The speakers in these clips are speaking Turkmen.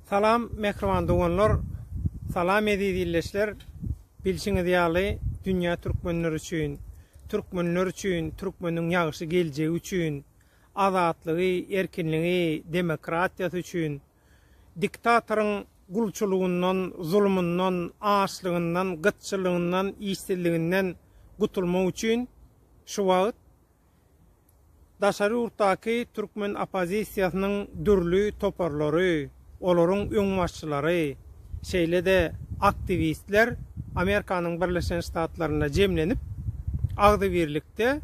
Salam mähriban doganlar, salam eziz illeçler. Bilşiňiz ýaly, dünýä türkmenler üçin, türkmenler üçin, türkmeniň ýagşy geljegi üçin, azatlygy, erkinligi, demokratiýasy üçin, diktatoryň gulçulygyndan, zulumyndan, açlygyndan, gytçylygyndan, işsizliginden gutulmak üçin şu wagt Daşary ýurtdaky türkmen oppozisiýasynyň dürli toparlary, olaryň öňbaşçylary, şeýle-de aktiwistler Amerikanyň Birleşen Ştatlarynda jemlenip, agzybirlikde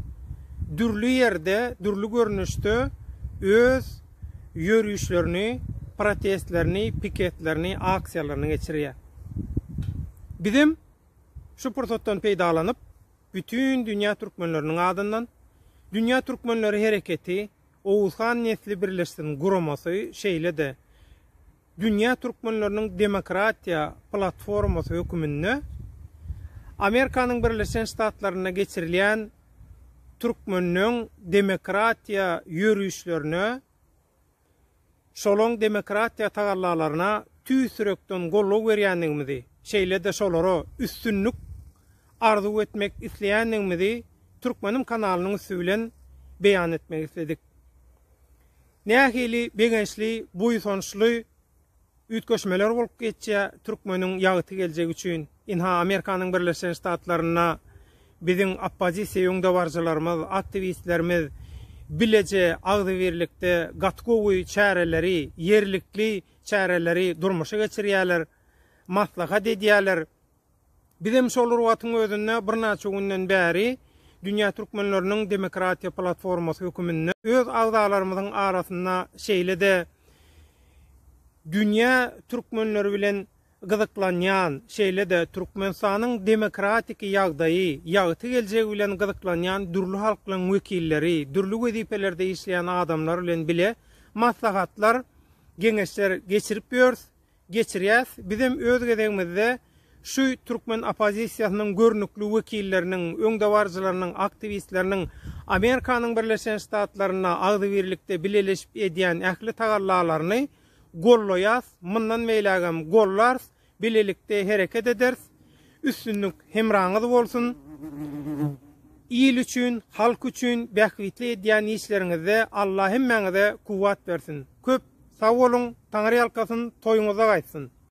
dürli ýerde, dürli görnüşde öz ýörişlerini, protestlerini, piketlerini, aksiýalaryny geçirýär. Bizem şu pursatdan peýdalanyp, Bütin dünýä türkmenleriniň adyndan Dünýä Türkmenleri Hereketi, Oguz han nesli birleşsin guramasy, şeýle-de Dünýä türkmenleriniň demokratiýa platformasy höküminde Amerikanyň Birleşen Ştatlarynda geçirilýän türkmenleň demokratiýa ýörişlerine Şolaň demokratiýa tagallalaryna tüýs ýürekden goldaw berýändigimizi, şeýle-de şolara üstünlik arzuw etmek isleýändigimizi Türkmenim kanalynyň üsti bilen beýan etmek isledik. Nähili begençli, buýsançly! Üýtgeşmeler bolup geçýä türkmeniň ýagty geljegi üçin ynha Amerikanyň Birleşen Ştatlarynda biziň oppozisiýa öňdebaryjylarymyz aktiwistlerimiz bileje agzybirlikde gaty gowy çäreleri ýerlikli çäreleri durmuşa geçirýäler maslahat edýäler. Bizem şol wagtyň özünde birnäçe günden bäri Dünýä türkmenleriniň demokratiýa platformasy höküminde öz agzalarymyzyň arasynda şeýle-de dünýä türkmenleri bilen gyzyklanýan, şeýle-de Türkmenistanyň demokratiki ýagdaýy, ýagty geljegi bilen gyzyklanýan dürli halklaryň wekilleri, dürli wezipelerde işleýän adamlar bilen bile maslahatlar, geňeşler geçirip ýörs. geçirýäs. Bizem öz gezegimizde şu türkmen oppozisiýasynyň görnükli wekilleriniň, öňdebaryjylarynyň, aktiwistleriniň Amerikanyň Birleşen Ştatlarynda agzybirlikde bileleşip edýän ähli tagallalaryny gollaýas, mundan beýlägem gollarys, bilelikde hereket ederis. Üstünlik hemraňyz bolsun! Il üçin, halk üçin bähbitli edýän işleriňizde Alla hemmäňize kuwwat bersin! Köp sag boluň, Taňryýalkasyn, toýuňyzda gaýtsyn!